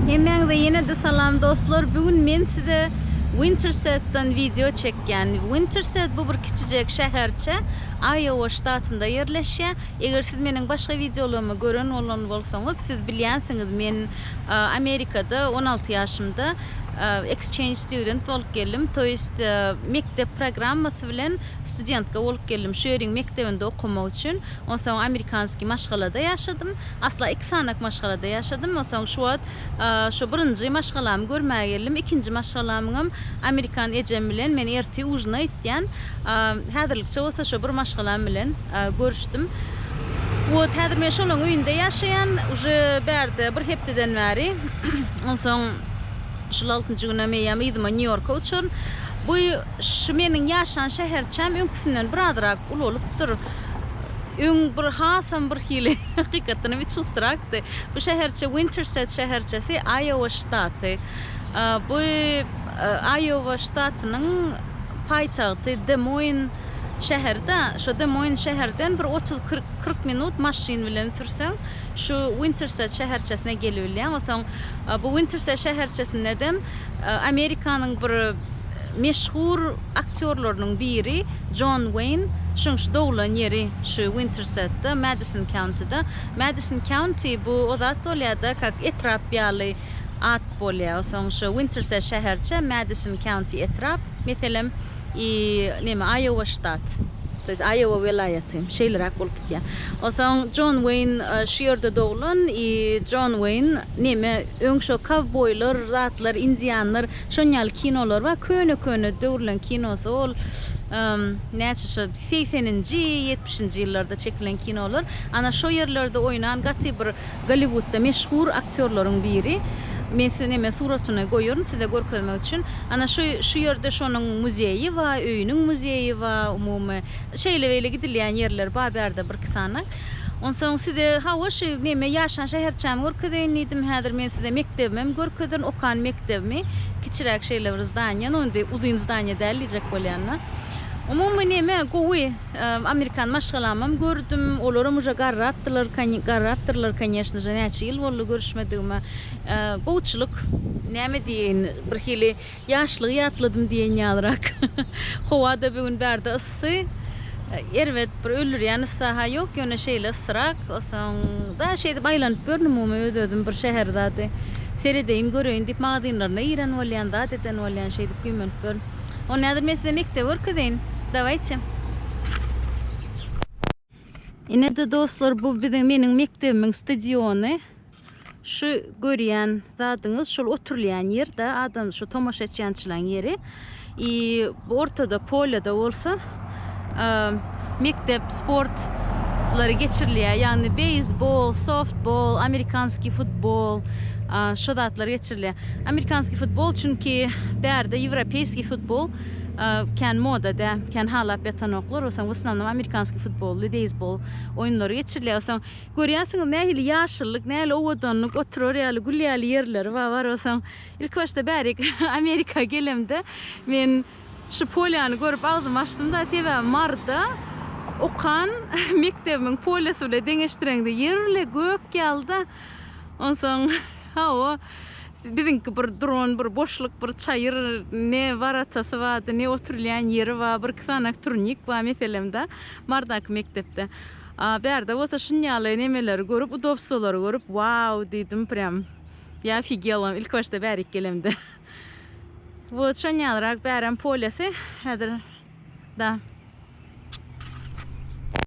Hemmäňize ýene-de salam dostlar. Bu gün men size Winterset-dan wideo çekýän. Winterset bu bir kiçijek şäherçe, Aýowa ştatynda ýerleşýär. Eger siz meniň başga wideolarymy gören bolan bolsaňyz, siz bilýänsiňiz, men Amerikada on alty ýaşymda exchange student bolup geldim, to ýest mekdep programmasy bilen studentka bolup geldim, şu ýeriň mekdebinde okamak üçin. Onsoň amerikanskiý maşgalada ýaşadym. Asla iki sanak maşgalada ýaşadym. Onsoň şu wagt şu birinji maşgalamy görmäge geldim. Ikinji maşgalamyňam amerikan ejem bilen men ertir ujina itýän. Häzirlikçe bolsa şu bir maşgalam bilen görüşdim. Wot häzir men şolaň öýünde ýaşaýan. Uje bärde bir hepdeden bäri. Onsoň şul altynjy günem eýýäm yzyma Nýu-Ýorka uçaryn. Bu şu meniň ýaşan şäherçäm öňküsinden birazrak ulalypdyr. Öň bir hasam bir hili hakykatdanam hiç gysrakdy. Bu şäherçe Winterset şäherçesi, Aýowa ştaty. Bu Aýowa ştatynyň paýtagty Demoin şäheri-de. Şo Demoin şäherden bir otuz kyrk minut maşyn bilen sürseň şu Winterset şäherçesine gelibilýäň. Onsoň bu Winterset şäherçesindedem Amerikanyň bir meşhur aktýorlarynyň biri Jon Weýn, şunuň şu doglan ýeri şu Winterset-de, Madison County-da. Madison County bu o zat bolýar-da, kak etrap ýaly at bolýar. Onsoň şu Winterset şäherçe, Madison County etrap, meselem, i, neme, Aýowa ştat. To ýest, Aýowa welaýaty, şeýleräk bolup gitýär. Onsoň Jon Weýn şu ýerde doglan i, Jon Weýn, neme, öň şo kowboýlar, zatlar, indianlar Şon ýaly kinolar bar. Köne köne döwürleň kinosy ol näçe şo segseninji, ýetmişinji ýyllarda çekilen kinolar. Ana şo ýerlerde oýnan gaty bir Golliwudda meşhur aktýorlaryň biri. Men size neme suratyny goýaryn size görkezmek üçin. Ana şo şu ýerde şonuň muzeýi bar, öýüniň muzeýi bar umumy. Şeýle beýle gidilýän ýerler bar bärde birki sany. Onsoň size, hawa, şu, neme, ýaşan şäherçämi görkezeýin diýdim. Häzir men size mekdebimem görkezerin, okan mekdebimi. Kiçiräk şeýle bir zdaniýa, no indi uzyn zdaniýa däl diýjek bolýan-da. Umumy, neme, gowy, amerikan maşgalamam gördüm. Olaram uje garrapdylar, garrapdyrlar, konýeşneje, näçe ýyl boldy görüşmedigime. Gowuçylyk. Näme diýeýin, birhili Ýaşlygy ýatladym diýen ýalyrak. Howa-da bu gün bärde yssy. Erbet bir öldürýän yssy-ha ýok, ýöne şeýle yssyrak. Soň daş şeýdip aýlanyp ýörün umumy öz-özüm bir şäher zady seredeýin, göreýin diýip magazynlaryna giren bolýan, zat eden bolýan şeýdip güýmenip ýörün. Onda häzir men size mekdebi görkezeýin. Dawaýçy. Ine-de dostlar, bu biziň meniň mekdebimiň stadiony. Şu görýän zadyňyz şol oturylýan ýer-de, adam şu tomaşa etýänçilaň ýeri. I bu ortada polýada bolsa mekdep sportlary geçirilýär, ýagny beýsbol, softbol, amerikanskiý futbol, şu zatlar geçirilýär. Amerikanskiý futbol çünki bärde ýewropeýskiý futbol kän moda dä, kän halap ýatanoklar, o soň w osnownom amerikanskiý futboly, beýzbol oýunlary geçirilýär, o soň görýärsiňiz nähili ýaşyllyk, nähili owadanlyk, oturar ýaly, gül ýaly ýerleri bar, bar, o soň ilki başda bärik Amerika gelemde men şu polýany görüp agzymy açdym da, sebäbi Maryda okan mekdebimiň polýasy bile deňeşdireňde ýer bile gök ýaly da, onsoň hawa. Biziňki bir duran bir boşluk bir çaýyr ne waratasy bardy ne oturylýan ýeri bar bir iki sany turnik bar meselem da Mardaky mekdepde a bärde bolsa şunýaly nemeleri görüp udobstwolary görüp wau diýdim prýam ýa ofigelam ilki başda bärik gelemde wot şonýalyrak bärem polýasy häzir da.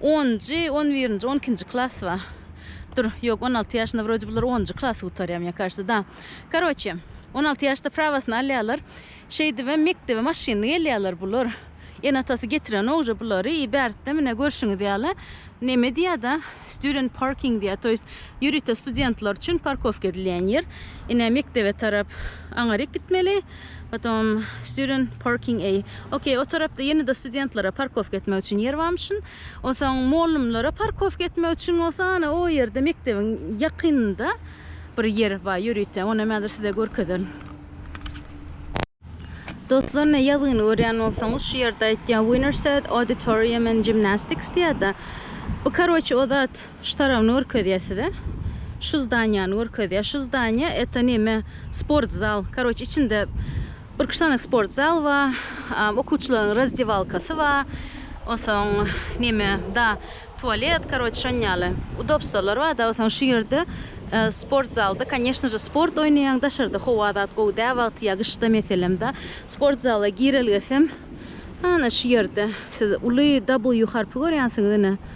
Onunjy, on birinji, on ikinji klas ba. Dur, ýok, on alty ýaşynda wroje bular onunjy klasy gutarýa, mne kažется, da. Karoçe, on alty ýaşda prawasyny alýalar. Şeýdibem mekdebe maşynly gelýaler bular. Ene-atasy getirenok uje bulary i bärtde mne görşüňiz ýaly neme diýada, student parking diýýa, to ýest ýörite studentler üçin parkowka edilýän ýer. Ine mekdebe tarap aňaryk gitmeli. Potom student parking A. Okey, o tarapda ýene-de studentlere parkowka etmek üçin ýer barmyşyn. Onsoň mugallymlara parkowka etmek üçin bolsa ana o ýerde mekdebiň ýakynynda bir ýer bar ýörite. Ony hem häzir size görkezerin. Dostlar, ine ýazgyny görýän bolsaňyz, şu ýerde aýtýar Winnerset Auditorium and Gymnastics diýýär-de. Bu karoçe o zat. Şu tarabyny görkezýä size. Şu zdaniýany görkezýä. Şu zdaniýa eto neme sport zal. Karoç içinde bir iki sany sport zal ba. Okuwçylaryň razdewalkasy ba. Onsoň neme da tualet karoç şon ýaly. Udobstolar ba da onsoň şu ýerde sport zalda koneşno je sport oýnaýaň daşarda howa zat gowy dä wagty ýa gyşda meselem da. Sport zala girelgesem ana şu ýerde siz uly W harpy görýänsiňiz ine.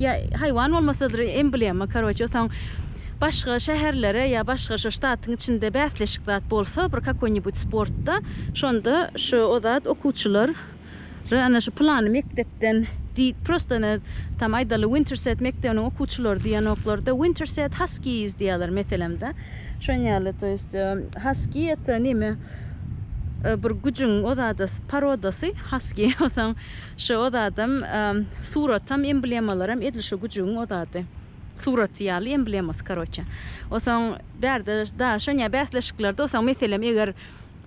Ýa haýwan bolmasadyr emblema karoçe soň başga şäherlere ýa başga şo ştatyň içinde bäsleşik zat bolsa bir kakoýnibut sportda şonda şo o zat okuwçylar ry ana şu pylany mekdepden diýip prosta ne tam aýdaly winterset mekdebiniň okuwçylary diýenoklarda winterset haskiýiz diýýärler meselem da şon ýaly to ýest haskiý ete neme bir güjüň o zada parodasy haskiý o soň Şo zadam suratam emblemalaram edil şo güjügiň ozady suraty ýaly emblemasy karoçe osaň bärde da şonýa bäsleşiklerde osaň meselem eger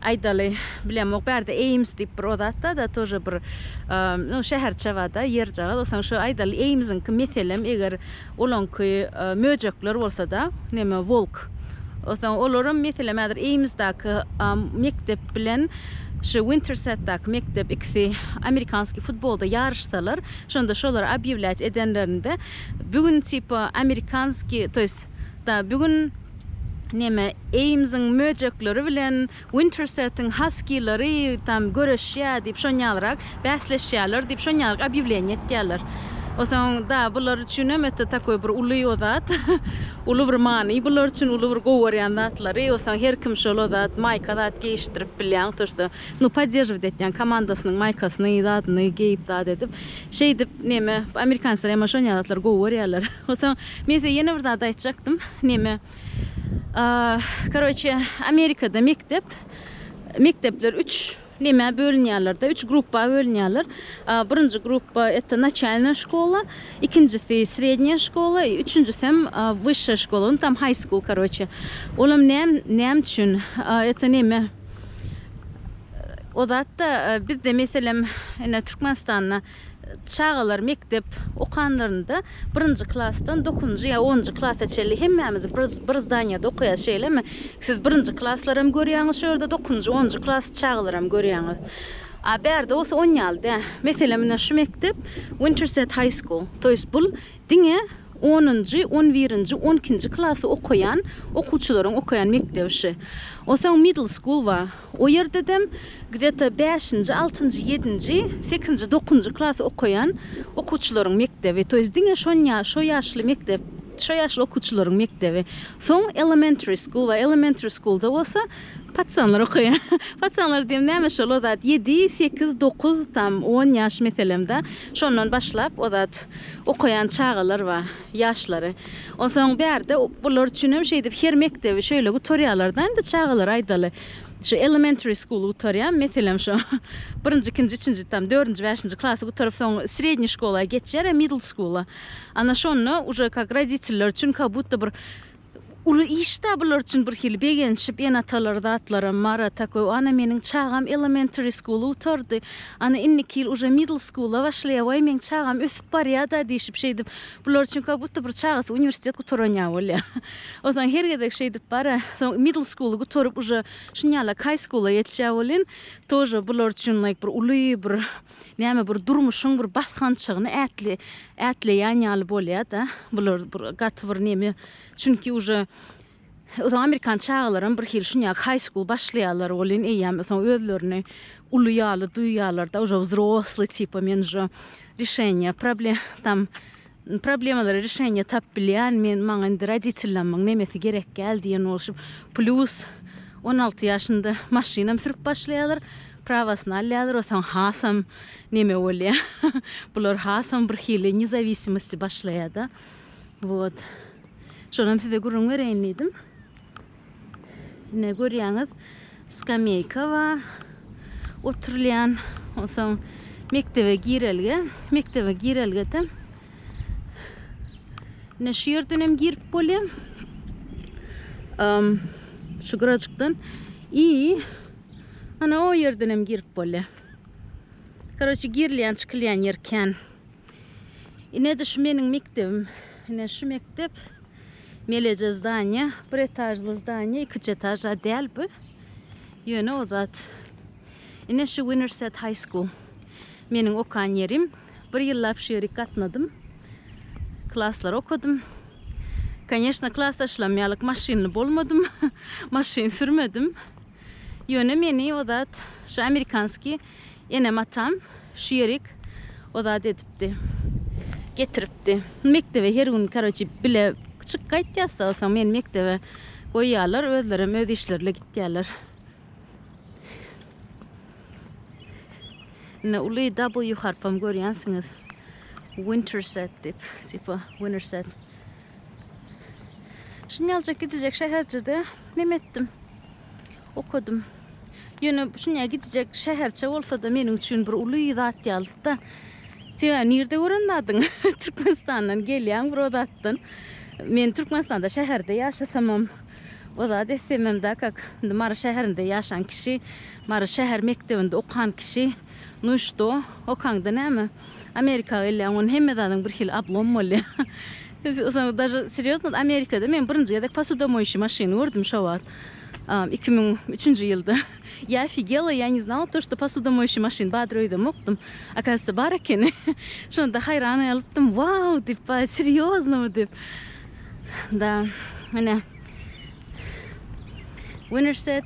aýdaly bilemok bärde eýms diýip bir ozat da da tože bir no şäherçe bada ýerjagaz osaň şo aýdaly eýmziňki meselem eger Olaňky möjekler bolsada neme wolk soň olaram meselem häzir eýmsdaky mekdep bilen şu wintersetdaky mekdep ikisi amerikanskiý futbolda ýaryşsalar şonda şolary obýewlýat edenlerinde bu gün tipa amerikanskiý to ýest da bu gün neme eýmsiň möjekleri bilen Wintersetiň Haskilary tam göreşýä diýip şonýalrak bäsleşýäler diýip şonýalrak obýawleniýe etýäler. Osaň da bular üçinem öte takoý bir uly o zat. Uly bir many bular üçin uly bir gowy görýän zatlary. Osaň her kim şol o zat maýka zat geýişdirip bilýän to şda nu podderžiwt etýän komandasynyň maýkasyny zadyny geýip zat edip şeýdip neme amerikanslar ema şonýa zatlar gowy görýäler. Osaň men size ýene bir zat aýtjakdym neme. Karoçe Amerikada mekdep mekdepler üç neme bölünýärler de, üç gruppa bölünýärler. Birinji gruppa ette naçalna şkola, ikinjisi srednýa şkola, üçünjisi hem wyşşa şkola, no tam high school karoçe. Olam näm näme üçin ette neme O zatda bizde meselem ine Türkmenistanda Çagalar mekdep okanlarynda birinji klasdan dokuzynjy ýa onunjy klasa çenli hemmämiz bir bir zdanýada okaýas şeýlemi? Siz birinji klaslaram görýäňiz şu ýerde dokuzynjy onunjy klas çagalaram görýäňiz. A bärde bolsa on ýaly dä. Meselem ine şu mekdep Winterset High School. Toýs bul Diňe onunjy, on birinji, on ikinji klasy okaýan okuwçylaryň okaýan mekdebi ši. Osaň middle school bar. O ýerdedem gdeta bäşinji, altynjy, ýedinji, sekizinji, dokuzynjy klasy okaýan okuwçylaryň mekdebi. To ýest diňe şon ýa şo ýaşly mekdep, şo ýaşly okuwçylaryň mekdebi. Soň elementary school bar. Elementary schoolda bolsa patsanlar okaýar. Patsanlar diýem näme şol o zat ýedi, sekiz, dokuz, tam on ýaş meselem-da. Şondan başlap o zat Okaýan çagalar bar, ýaşlary. Onsoň bärde bular üçin hem şeýdip her mekdebi şeýle gutarýarlar-da indi çagalar aýdaly. Şu elementary school gutarýar, meselem şu birinji, ikinji, üçünji tam dördünji, bäşinji klasy gutaryp soň srednýe şkola geçýär-ä middle school-a. Ana şonda uje kak roditeller üçin kabutda bir Uly iş-dä bular üçin birhili begenişip, ene-atalar zatlaram bar, a tak we ana meniň çagam elementary school gutardy, ana indiki ýyl uje middle school-a başlaýar, waý meň çagam ösüp barýa-da diýşip şeýdip, bular üçin ka budda bir çagasy uniwersitet gutaran ýaly bolýar. Onsoň her gezek şeýdip bar-a, soň middle school-y gutaryp uje şunýalak high school-a geçýär welin, tože bular üçin like bir uly bir näme bir durmuşyň bir basgançagyny ätli ätleýän ýaly bolýa-da, bular bir gaty bir neme, çünki uje ösen amerikan çagalaram bir hili şunýag haý skul başlaýarlar welin eýýäm soň özlerini uly ýaly duýýarlar-da, uje wzrosly tipa men uje rişeniýa problem tam Problemalary rişeniýa tapyp bilýän men maňa indi roditellamyň nemesi gerekgäl diýen bolşup plýus on alty ýaşynda maşynam sürüp başlaýalar prawasyny alýalar osaň hasam neme bolýa bular hasam bir hili nezawisimasty başlaýada wot şonam size gürrüň bereýin diýdim. Ine görýäňiz, skameýka bar, oturylýan. Onsoň mekdebe girelge, mekdebe girelgede ine şu ýerden hem girip bolýar. Şu gyrajykdan i ana o ýerden hem girip bolýar. Koroçi girilýän, çykylýan ýer kän. Inede şu meniň mekdebim. Ine şu mekdep. Meleje zdaniýa. Bir etažly zdaniýa. Ikiji etaž a däl bu. Ýöne o zat. Ine şu Winnerset High School. Meniň okan ýerim. Bir ýyllap şu ýerik gatnadym. Klaslar okadym. Koneşna klasdaşlam ýalyk maşynly bolmadym. Maşyn sürmedim. Ýöne meni o zat şu amerikanskiý Enem-atam şu ýerik o zat edipdi. Getiripdi. Mekdebe her gün karoçi bile çyk gaýtýas da soň meni mekdebe goýýarlar, özlerem öz işlerle gitýärler. Ine uly W harpam görýänsiňiz. Winterset dip, tipa winterset. Şunýaljak gidijek şäherjede neme etdim? Okadym. Ýöne şunýa gidijek şäherçe bolsa-da meniň üçin bir uly zat ýalydy-da. Sebäbi nirde gören zadyň? Türkmenistandan gelýäň bir o zatdan. Men Türkmenistanda şäherde ýaşasamam, o zat etsemem da kak. Indi Mary şäherinde ýaşan kişi, Mary şäher mekdebinde okan kişi, nu i što? Okaňda näme? Amerika gelýän gün hemme zadyň bir hili oblom bolýar. Soň daže serýozno Amerikada men birinji gezek posudomoýşi maşyny gördüm şo wagt. Iki müň üçünji ýylda. Ýa ofigela, ýa ne znala to, şto posudomoýşi maşyn badr öýdemokdym. Akazýssa bar ekeni. Şonda haýran galypdym. Wau! diýip baý serýoznomy diýip. Da, ine. Winner set.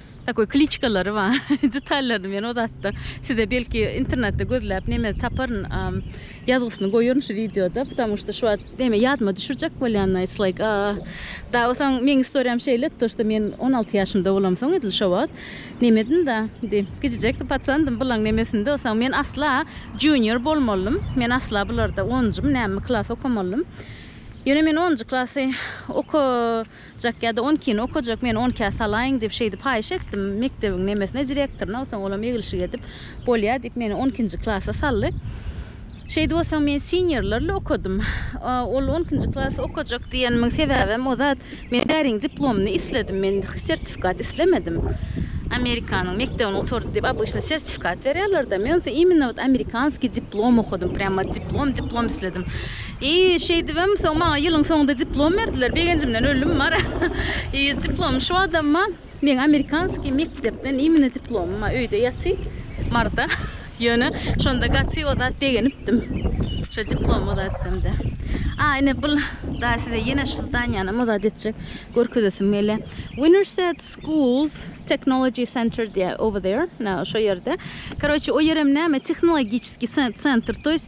Takoý kliçkalary bar. Detallaryny men o zatda size belki internetde gözläp neme taparyn. Ýazgysyny goýaryn şu wideoda. Putamu şda şu wagt neme ýadyma düşürjek bolýan na it's like aa. Da o soň meň istoriýam şeýle to şda men on alty ýaşymda bolamsoň edil şo wagt nemedim da indi kiçijekdi paçandym bulaň nemesinde o soň men asla junior bolmalydym. Men asla bularda onunjymy nämemi klas okamalydym. Ýöne men onunjy klasy oka okajak ýa-da on ikini okajak, meni on ikä salaýyň diýip şeýdip haýyş etdim. Mekdebiň nemesine, direktoryna, soň olam eglişik edip, bolýa diýip, meni on ikinji klasa saldy. Şeýdip bolsa men seniorlerle okadym. Ol on ikinji klasy okajak diýenimiň sebäbem o zat, men bäriň diplomyny isledim, men sertifikat islemedim. Amerikanyň mekdebini gutardy diýip, obyçny sertifikat berýärler-de, men bolsa imенно wot amerikanskiý diplom okadym, prýam wot diplom, diplom isledim. I şeýdibem soň maňa ýylyň soňunda diplom berdiler. Begenjimden öldüm mara. I diplom şu adamma meň amerikanskiý mekdepden imine diplomym a öýde ýaty marda. Ýöne şonda gaty o zat begenipdim. Şo diplom o zat demde. A ine bul da size ýene şu zdanýanam o zat etjek görkezesim gelýä. Winterset schools technology center diýä over there. Na şo ýerde. Karoçi o ýerem näme tehnologiçiskiý sentr to ýest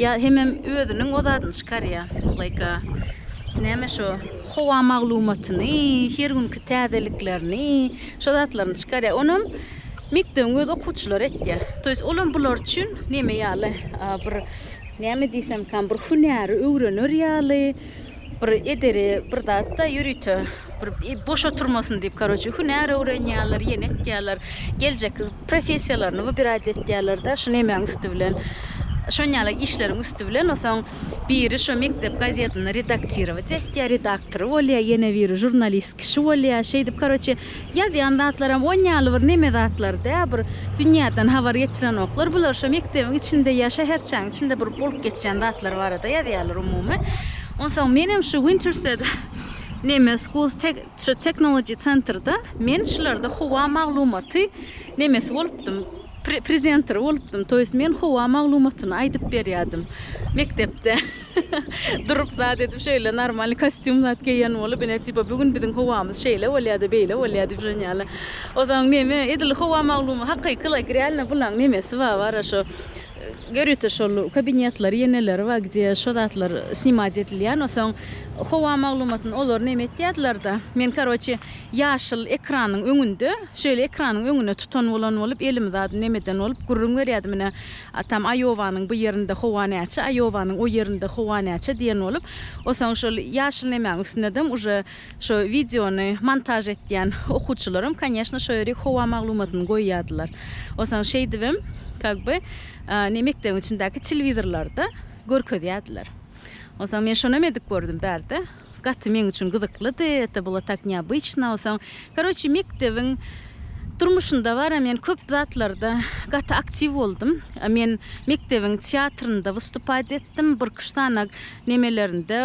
Ýa hemem özüniň o zadyny çykarýa like näme şo howa maglumatyny her günki täzeliklerini şo zatlaryny çykarýa onam mekdebiň öz okuwçylary etýä to ýest olam bular üçin neme ýaly bir näme diýsemkam bir hünäri öwrener ýaly Bir ederi bir zatda ýörite bir boş oturmasyn diýip karoçe hünär öwrenýärler, ýene etýärler. Geljek professiýalaryny bu biraz etýärler-de, şu nemäň üsti bilen. Şon ýaly işleriň üsti bilen osaň biri şu mekdep gazetini redaktировать etýär, redaktory bolýar, ýene biri žurnalist kişi bolýar. Şeýdip karoçe Ýazýan zatlaram on ýaly bir neme zatlar dä bir dünýäden habar ýetirenoklar bular şo mekdebiň içinde ýa şäherçäň içinde bir bolup geçýän zatlar barada ýazýarlar umumy onsoň menem şu wintersede neme schools tek şu technology centerda men şularda howa maglumaty nemesi bolupdym prezenteri bolupdym toýs men howa maglumatyny aýdyp berýärdim mekdepde Durup zat edip şeýle normalny kostýum zat geýen bolup ine tipa bu gün biziň howamyz şeýle bolýada beýle bolýa diýip şon ýaly. Ozan neme edil howa maglumy hakyky la gralno bulaň nemesi ba bara şo görýte şol kabinetleri ýeneleri ba gdýe şo zatlar snimat edilýän osaň howa maglumatyn olar neme etýädiler da men karoçi ýaşyl ekranyň öňünde şeýle ekranyň öňüne tutan bolan bolup elimi zat nemeden bolup gürrüň berýädim ine Atam Aýowanyň bu ýerinde howa näçe, Aýowanyň o ýerinde howa näçe diýen bolup, osaň şol ýaşyl nemäň üstündedem uje şo wideony montaž etýän okuwçylaram, konýeşno, şo ýerik howa maglumatyny goýýardylar. Osaň şeýdibem, kak by, ne mekdebiň içindäki telewizorlarda görkezýärdiler. Osaň men şonam edip gördüm bärde. Gaty meň üçin gyzyklydy, eta bula tak neobıçno soň karoçi mekdebiň durmuşynda bara men köp zatlarda gaty aktiv boldum men mekdebiň teatrynda wystupad etdim birküşsanag nemelerinde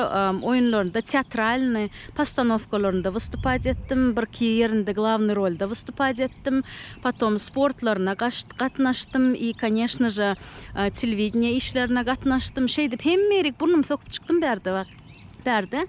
oýunlarynda teatralny postanowkalarynda wystupad etdim birki ýerinde glavny rolda wystupad etdim potom sportlaryna gaşt gatnaşdym i koneşnože telewideniýe işlerine gatnaşdym şeýdip hemmeýerik burnum sokup çykdym bärde bar. Bärde.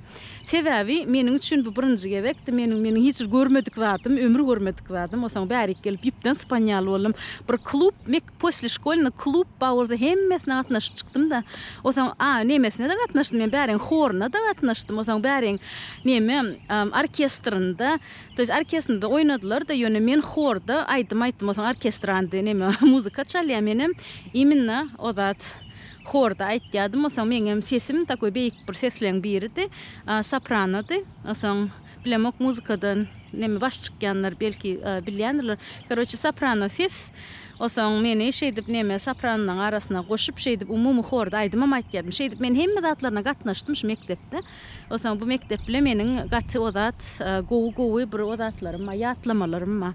Sebäbi meniň üçin bu birinji gezekdi. Meniň meniň hiç görmedik zadym, ömür görmedik zadym. Osaň bärik gelip ýüpden sypan ýaly boldum. Bir klub, mek posle şkolny klub bar bolsa hemmesine gatnaşyp çykdym-da. Osaň a nemesine-de gatnaşdym. Men bäriň horuna-da gatnaşdym. Osaň bäriň neme orkestrynda, to ýes orkesnda oýnadylar-da, ýöne men horda aýdym aýtdym. Osaň orkestrandy neme muzyka çalýar. Menem iminna ozat Horda aýtýardym, osaň meňem sesim takoý beýik bir sesleň biridi, sopranody. Osaň bilemok muzykada neme baş çykýanlar belki bilýändirler. Karoçe soprano ses, osaň meni şeýdip neme sopranlaň arasyna goşup şeýdip umumy horda aýdymam aýtýardym. Şeýdip men hemme zatlaryna gatnaşdym şu mekdepde. Osaň bu mekdep bilen meniň gaty ozat gowy gowy bir ozatlarym bar, ýatlamalarym bar.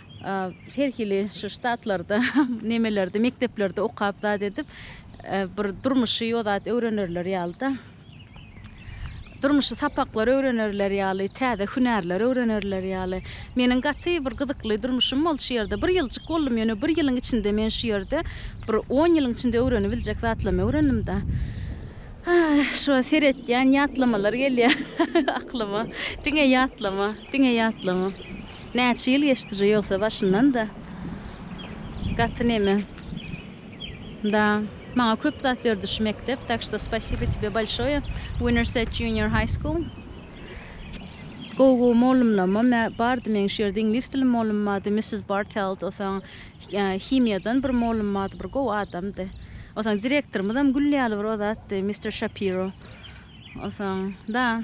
Her hili şu ştatlarda, nemelerde, mekdeplerde okap zat edip, bir durmuşy o zat öwrenerler ýaly-da. Durmuşy sapaklar öwrenerler ýaly, täze hünärler öwrenerler ýaly. Meniň gaty bir gyzykly durmuşym boldy şu ýerde. Bir ýyljyk boldum, ýöne bir ýylyň içinde men şu ýerde bir on ýylyň içinde öwrenibiljek zatlamy öwrendim-de. Şo seretýän ýatlamalar gelýär aklyma. Diňe ýatlama, diňe ýatlama. Näçe ýyl geçdire ýogsa başyndan-da. Gaty neme. Da. Maňa köp zat berdi şu mekdep, tak şda spasibo tebe bolşoýe, Winnerset Junior High School. Gowy gowy mollumlamam mä bardy meň şu ýerde iňlis dili mollum bardy, Missis Bartelt osaň himiýadan bir mollum bardy bir gowy adamdy. Osaň direktorymyzam gül ýaly bir o zatdy, Mister Şapiro. Osaň. Da.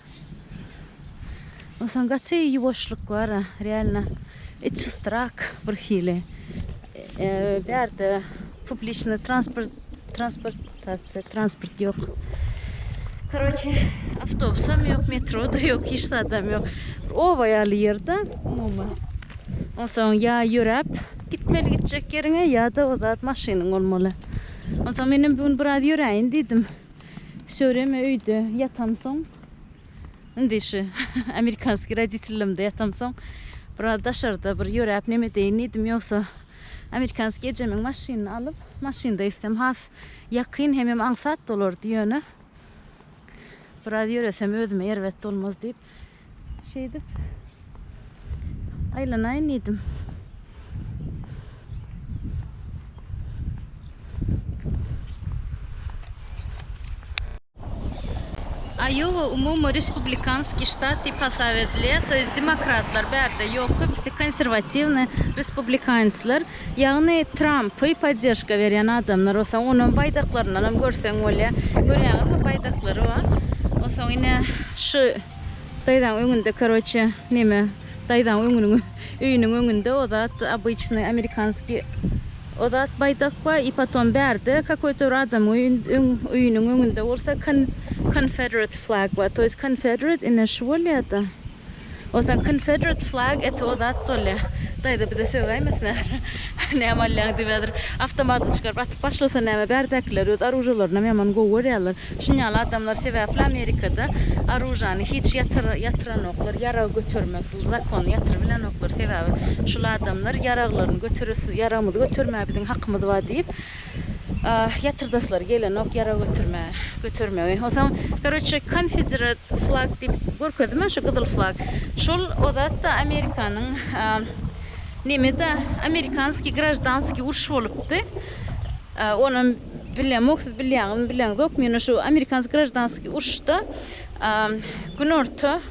Onsoň gaty ýuwaşlyk bar, realno içi strak bir hili. Bärde publiçny transport transportasiýa transport ýok. Karoçe, awtobusam ýok, metro-da ýok, hiç zadam ýok. Oba ýaly ýerde umuman. Onsoň ýa ýöräp gitmeli gitjek ýeriňe ýa-da o zat maşynyň bolmaly. Onsoň menem bu gün biraz ýöräýin diýdim. Şöwreme öýde ýatamsoň, indi şu amerikanskiý roditellemde ýatamsoň, biraz daşarda bir ýöräp neme edeýin diýdim, ýogsa amerikanskiý ejemiň maşynyny alyp, maşynda gitsem has ýakyn hemem aňsat bolardy, ýöne biraz ýöresem özüme erbet bolmaz diýip, Şeýdip aýlanaýyn diýdim. Aýowa umumy respublikanskiý ştat diýip hasap edilýär, to ýest demokratlar bärde ýok köpüsi konserwatiwny respublikanslar. Ýagny Trampy podderžka berýän adamlar bolsa onuň baýdaklaryndan hem görseň bolýar. Görýäňizmi baýdaklary bar. Onsoň ine şu daýzaň öňünde karoçe neme daýzaň öňüniň öýüniň öňünde o zat obyçnyý amerikanskiý o zat baýdak bar i potom bärde kakoýta bir adamyň öýün öň öýüniň öňünde bolsa kon konfederate flag bar to ýest konfederate ine şu bolýada. Osan konfederate flag eti o zat bolýa. Daýza bize sögäýmesin häzir. Näme alýaň diýip häzir awtomatyny çykaryp atyp başlasa näme bärdekiler öz aružalaryny ýaman gowy görýärler. Şunýaly adamlar sebäpli Amerikada aružany hiç ýatyranoklar ýarag götermek bu zakony ýatyrybilenoklar sebäbi şul adamlar ýaraglaryny göteresi ýaragymyzy götermäge biziň hakymyz bar diýip Ah, ýatyrdaslary gelenok ýara götürme, götermegi. Onsoň, karoçe, konfederat flag diýip görkezdim men, şu gyzyl flag. Şol o zat-da Amerikanyň, neme-de, amerikanskiý graždanskiý uruş bolupdy. Onam bilemok, siz bilýäňizmi, bileňzokmy, ýöne şu amerikanskiý graždanskiý uruşda Günorta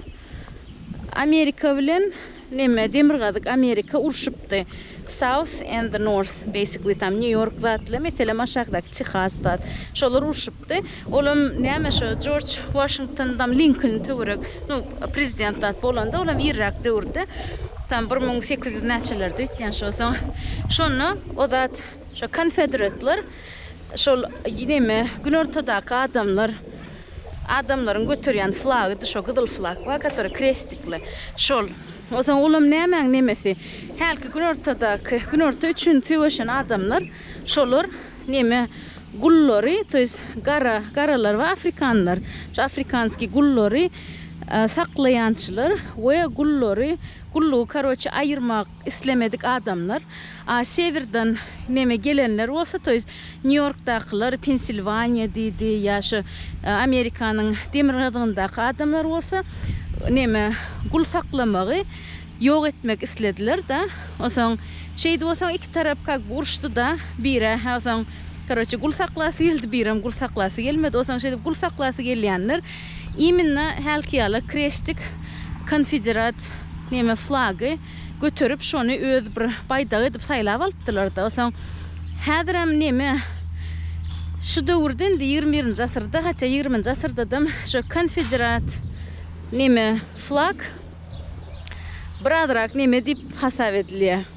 Amerika bilen Neme demirgazyk amerika urşupdy south and the north basically tam new york zatly meselem aşakdaky tehas zat şolar urşupdy olam name şo jorj washington tam linkoln töwerek nu prezident zat bolanda olam irrak döwürde tam bir müň sekiz ýüz naçelerde ötýän şo soň şonda o zat şo konfederatlar Şol neme günortadaky adamlar adamlaryň göterýän flagydy şo gyzyl flag bar который krestikli şol ozaň olam nämäň nemesi hälki günortadaky günorta üçin söweşen adamlar şolar neme gullary to ýest gara garalar bar afrikanlar şo afrikanskiý gullary saklaýançylar we gullary gullugy karoçe aýyrmak islemedik adamlar a sewerden neme gelenler bolsa to ýest nýu ýorkdakylar pensilwaniýa diýdi ýa şu amerikanyň demirgazygyndaky adamlar bolsa neme gul saklamagy ýok etmek islediler da onsoň şeýdip onsoň iki tarap kak uruşdy da bire onsoň karoçe gul saklasy geldi birem gul saklasy gelmedi onsoň şeýdip gul saklasy gelýänler Iminna hälki ýala krestik konfederat neme flagy göterip şony öz bir baýdagy edip saýlap alypdylarda soň häzirem neme şu döwürde indi ýigrimi birinji asyrda hatda ýigriminji asyrdadam şo konfederat neme flag bir azrak neme diýip hasap edilýär.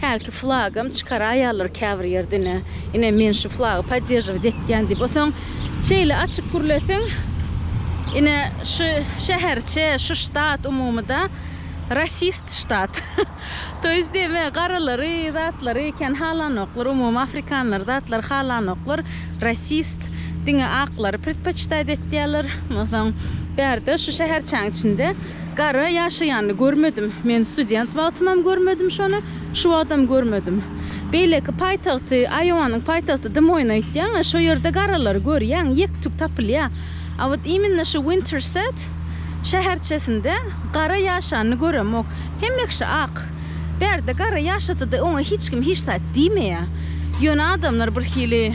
Hälki flagam çykaraýarlar käbir ýerde ine. Ine men şu flagy podderžiwit etýän diýip. Onsoň şeýle açyp gürlesiň ine şu şäherçe, şu ştat umumyda rasist ştat. To ýest eme garalary, zatlary kän halanoklar, umumy afrikanlary, zatlary halanoklar. Rasist diňe aklary predpoçität etýärler. Onsoň bärde şu şäherçäň içinde. Gara ýaşaýanyny görmedim. Men student wagtymam görmedim şony, şu wagtam görmedim. Beýleki paýtagty, Aýowanyň paýtagty Demoýny aýtýaň-a, şo ýerde garalary görýäň, ýek-tük tapylýar. A wot iminna şu Winterset şäherçesinde gara ýaşanyny göremok. Hemmeksi ak. Bärde gara ýaşasa-da, oňa hiç kim hiç zat diýmeýär. Ýöne adamlar birhili.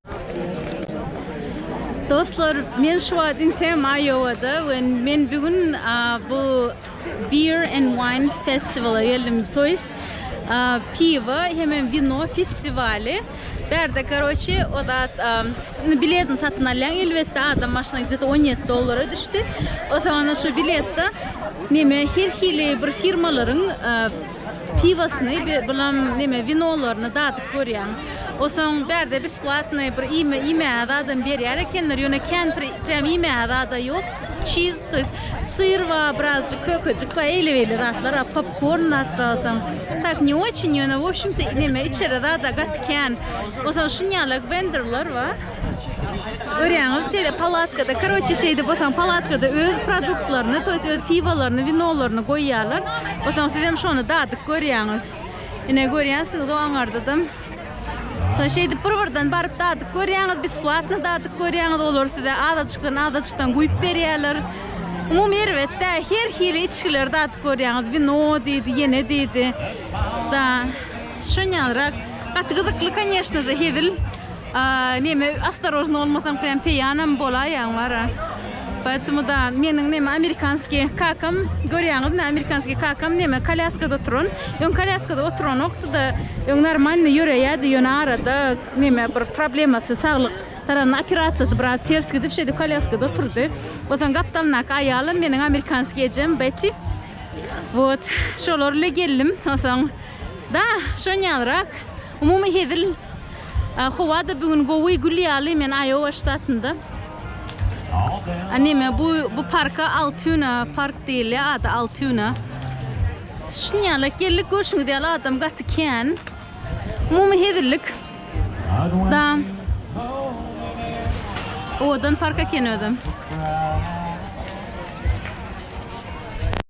Dostlar men şu wagt inteýem Iowa-da we men bu gün bu Beer and Wine Festival-a geldim, to ýest piwo hemem wino festiwaly. Bärde karoçi o zat indi biletini satyn alýaň elbetde adam başyna gde-de on ýedi dollara düşdi. Otaňda şu biletde neme her hili bir firmalaryň Piwosyny bir bulam neme winolaryny dadyp görýän. Osaň bärde besplatny bir iýme iýmäge zadam berýär ekenler, ýöne kempir prýam iýmäge zada ýok. Çiz, to ýest syr bar, birazjyk kökejik bar, eýle-beýle zatlar bar, popkorn atrasaň. Tak ne oçin, ýöne wobşemto neme içere zada gaty kän. Osaň şunýala wenderler bar. Görýäňiz, şeýle palatkada, karoçe şeýdip otaň palatkada öz produktlaryny, to ýest öz piwolaryny, winolaryny goýýarlar. Otaň siz hem şony dadyp görýäňiz. Ine görýänsiňiz o aňardadam. Soň şeýdip bir-birden baryp dadyp görýäňiz, besplatno dadyp görýäňiz. Olar size azajykdan-azajykdan guýup berýärler. Umumy erbet-dä, her hili içgileri dadyp görýäňiz. Wino diýdi, ýene diýdi. Da, şonýanrak gaty gyzykly, конечно-je, hezil. A neme ostorojny bolmasaň prýam peýanam bolaýýaň bara. Poetemu da meniň neme amerikanskiý kakam görýäňizmi amerikanskiý kakam neme kolýaskada oturan. Öň kolýaskada oturanokdy da öň normalny ýöreýädi ýöne arada neme bir problemasy saglyk taranyň operasiýasy biraz ters gidip şeýdip kolýaskada oturdy. Onsoň gapdalyndaky aýalam meniň amerikanskiý ejem Beti. Wot şolar ile geldim onsoň da şonýalrak. Umumy hezil Howada bu gün gowy gül ýaly men Iowa ştatynda. Anime bu bu parka Altuna park diýilýär ady Altuna. Şunýalak geldik görşüňiz ýaly adam gaty kän. Umumy hezillik. Da. Owadan park eken özem.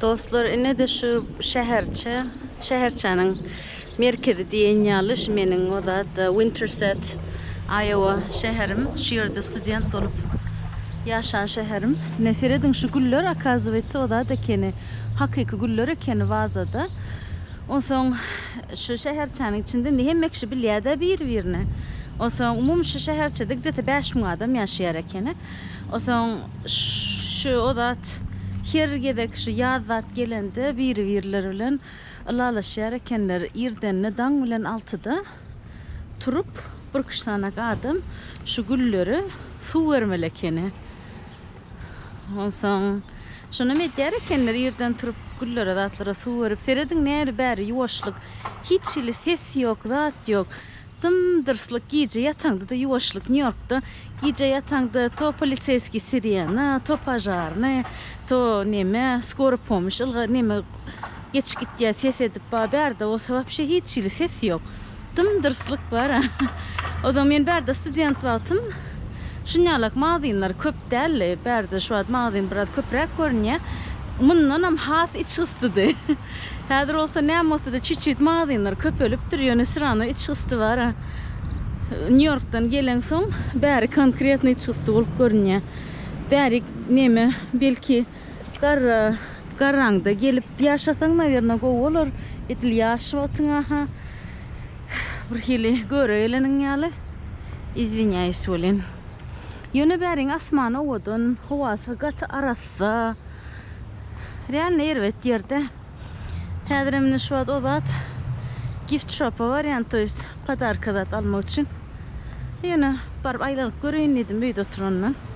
Dostlar ine de şu şäherçe, şäherçäniň merkezi diýen ýaly şu meniň oda da Winterset, Iowa şäherim. Şu ýerde student bolup ýaşan şäherim. Ne serediň şu güller, akazywetse oda da keni. Hakyky güller ekeni wazada. Onsoň şu şäherçäniň içinde indi hemme kişi bilýär-dä bir-birine. Onsoň umumy şu şäherçede gde-te bäş müň adam ýaşaýar ekeni. Onsoň şu o zat her gezek şu ýaz zat gelende biri-birleri bilen ylalaşýar ekenler. Irdenine daň bilen altyda turup, birküç sanak adam şu güllere suw bermeli ekeni. Onsoň şonam edýär ekenler, irden turup güllere, zatlara suw berip, serediň näri-bäri ýuwaşlyk, hiç hili ses ýok, zat ýok. Dym-dyrslyk, gije ýataňda-da ýuwaşlyk. Nýu-Ýorkda gije ýataňda to poliseýskiý sirena, to požarnyý, to neme, skora pomoş ylgar neme, Geçip gitýär ses edip ba bärde bolsa wapşe hiç hili ses ýok. Dym dyrslyk bar. Ozal men bärde student wagtym şunýalak magazynlar köp däldi. Bärde şu wagt magazyn biraz köpräk görünýär. Mundanam has içgystydy. Häzir bolsa näme bolsada çüçüt magazynlar köpelipdir ýöne syrano içgysty bar. Nýu Ýorkdan gelen soň bäri konkretno içgysty bolup görünýär. Bärik neme belki Garra, garraňda gelip ýaşasaň, nawerno, gowy bolar. Edil ýaş wagtyňa-ha bir hili göre geleniň ýaly. Izwinýaýs welin. Ýöne bäriň asman owadan, howasy gaty arassa. Realny erbet ýerde. Häzirem indi şu wagt o zat gift shop-a barýan, to ýest podarka zat almak üçin. Ýöne baryp aýlanyp göreýin diýdim öýde oturandan.